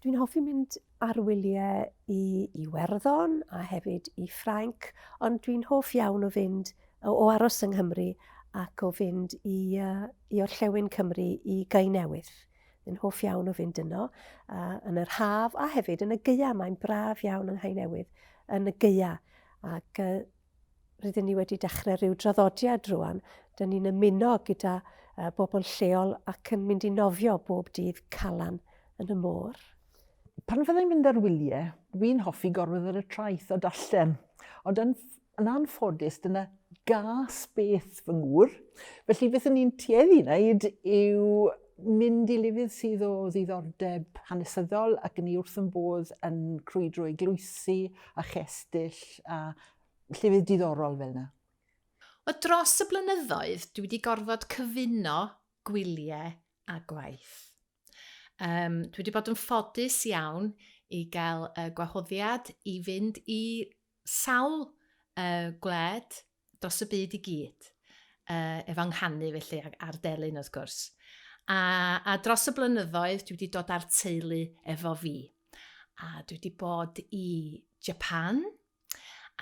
Dwi'n hoffi mynd ar wyliau i Iwerddon a hefyd i Ffrainc, ond dwi'n hoff iawn o fynd o, o aros yng Nghymru ac o fynd i, uh, i orllewin Cymru i Gai Newydd. Dwi'n hoff iawn o fynd yno uh, yn yr haf a hefyd yn y gyau. Mae'n braf iawn yng Nghai Newydd yn y gyau ac uh, rydyn ni wedi dechrau rhyw draddodiad rwan. Dyn ni'n ymuno gyda uh, bobl lleol ac yn mynd i nofio bob dydd calan yn y môr. Pan fydda i'n mynd ar wyliau, dwi'n hoffi gorwedd ar y traeth a darllen. Ond yn, yn anffodus, dyna gas beth fy ngŵr. Felly beth yn ni'n tueddu wneud yw mynd i lefydd sydd o ddiddordeb hanesyddol ac ni wrth yn bodd yn crwydro i gloesi a chestyll a llefydd diddorol fel yna. Wel, dros y blynyddoedd, dwi wedi gorfod cyfuno gwyliau a gwaith. Um, dwi wedi bod yn ffodus iawn i gael y gwahoddiad i fynd i sawl uh, gwled dros y byd i gyd, uh, efo nghanu felly, a'r delyn wrth gwrs. A, a dros y blynyddoedd, dwi wedi dod â'r teulu efo fi. A dwi wedi bod i Japan,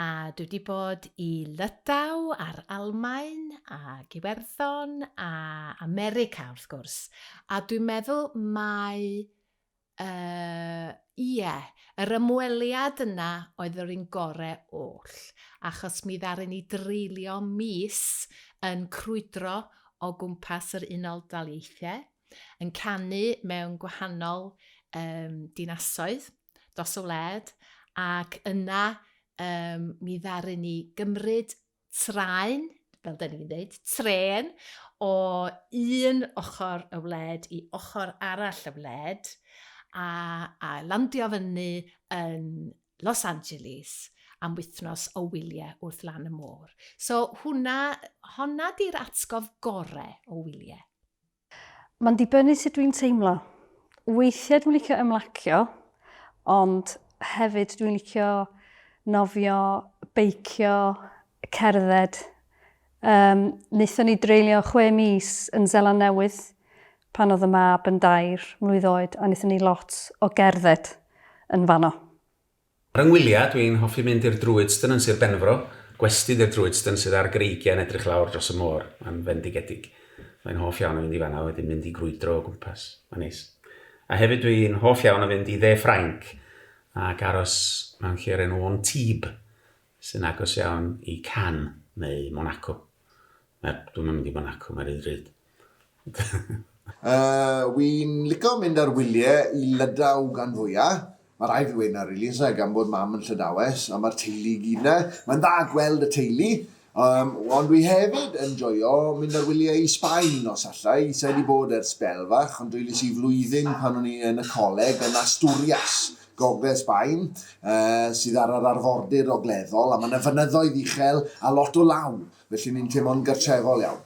a dwi wedi bod i Lydaw a'r Almain, a Gywerddon, a America wrth gwrs. A dwi'n meddwl mae Yy, ie, yr ymweliad yna oedd yr un gore oll, achos mi ddaru ni dreulio mis yn crwydro o gwmpas yr Unol Daleithiau, yn canu mewn gwahanol um, dinasoedd dros y wled, ac yna um, mi ddaru ni gymryd traen, fel da ni'n dweud, tren o un ochr y wled i ochr arall y wled a, a landio fyny yn Los Angeles am wythnos o wyliau wrth lan y môr. So hwnna, honna di'r atgof gorau o wyliau. Mae'n dibynnu sut dwi'n teimlo. Weithiau dwi'n licio ymlacio, ond hefyd dwi'n licio nofio, beicio, cerdded. Um, Nethon ni dreulio chwe mis yn Zeland Newydd pan oedd y mab yn dair mlwydd oed a nethon ni lot o gerdded yn fanno. Ar 'y ngwyliau, dw i'n hoffi mynd i'r Druidston yn Sir Benfro, gwesty di'r Druidston sydd ar greigiau yn edrych lawr dros y môr, mae'n fendigedig. Mae'n hoff iawn o fynd i fan'na a wedyn mynd i grwydro o gwmpas, mae'n neis. A hefyd dw i'n hoff iawn o fynd i Dde Ffrainc ac aros mewn lle o'r enw Antibes, sy'n agos iawn i Cannes neu Monaco. Mae, dw i'm yn mynd i Monaco, mae'n rhy ddrud. uh, wi'n lico mynd ar wyliau i Lydaw gan fwyaf. Mae rhaid fi weina, really, is e, gan bod mam yn llydawes, a mae'r teulu gyd na. Mae'n dda gweld y teulu, um, ond dwi hefyd yn joio mynd ar wyliau i Sbaen nos allai. Sa'i wedi bod ers bel fach, ond dwi lisi flwyddyn pan o'n i yn y coleg yn Asturias, gogledd Sbaen, uh, sydd ar yr arfordir ogleddol, a mae yna fynyddoedd uchel a lot o law, felly ni'n teimlo'n gartrefol iawn.